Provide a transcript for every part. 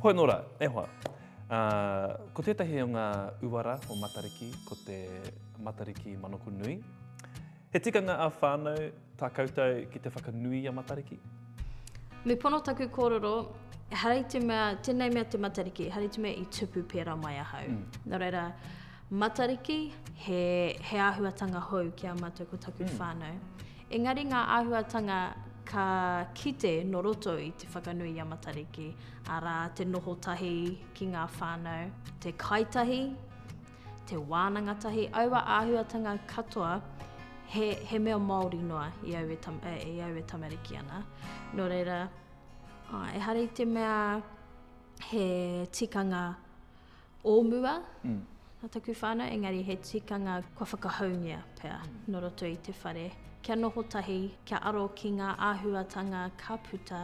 Hoi nō rā, e hoa. Ko tētahi o ngā uara o Matariki, ko te Matariki Manoko Nui. He tikanga ā whānau tā koutou ki te whakanui i a Matariki? Me pono taku kōrero, hara i te mea, tēnei mea te Matariki, hara i te mea i tupu pērā mai ahau. Mm. Nō reira, Matariki, he, he āhuatanga hou ki a mātou ko taku mm. whānau. Engari ngā āhuatanga ka kite no roto i te whakanui a Matariki, arā te noho tahi ki ngā whānau, te kaitahi, te wānanga tahi, aua āhuatanga katoa he, he mea Māori noa i au e, tam, e, e au e tamariki ana. Nō reira, ehara i te mea he tikanga o mua, nā taku whānau, engari he tikanga kua whakahoungia pea nō roto i te whare, kia noho tahi, kia aro ki ngā āhuatanga ka puta,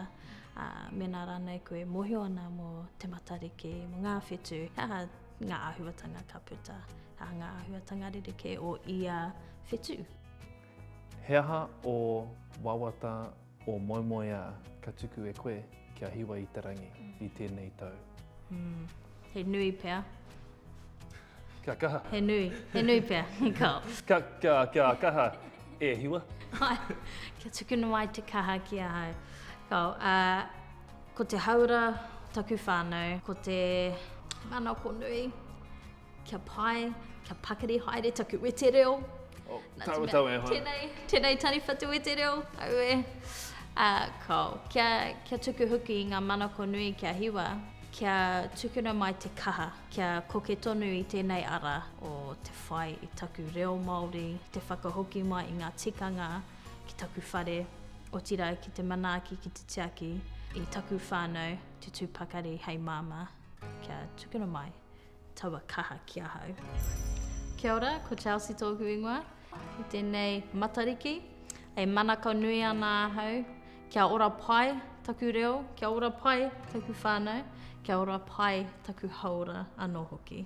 ā, mēnā rānei koe e mōhio ana mō Te Matariki, mō ngā whetū, he aha ngā āhuatanga ka puta, he aha ngā āhuatanga rerekē o ia whetū. He aha ō wawata O Moemoeā, ka tuku e koe kia hiwa i te rangi i tēnei tau. Mm. He nui pea. Kia kaha. He nui, he nui pea. Ka. Ka, ka, kia kaha e hiwa. kia tukuna mai te kaha ki ahau. Ka, uh, ko te hauora taku whānau, ko te manako nui. Kia pai, kia pakari haere taku wete reo. Oh, tawa tawa e hoa. Tenei, tenei tariwha te wete reo, au e. Uh, ko, kia, kia tuku huki i ngā manako nui kia hiwa, kia tukuna mai te kaha, kia koke tonu i tēnei ara o te whai i taku reo Māori, te whakahoki mai i ngā tikanga ki taku whare, otira ki te manaaki ki te tiaki, i taku whānau, te tūpakari hei māmā, kia tukuna mai. Taua kaha ki ahau. Kia ora, ko Chelsea tōku ingoa, i tēnei Matariki. E manako nui ana ahau, kia ora pai taku reo, kia ora pai taku whānau, kia ora pai taku hauora anō hoki.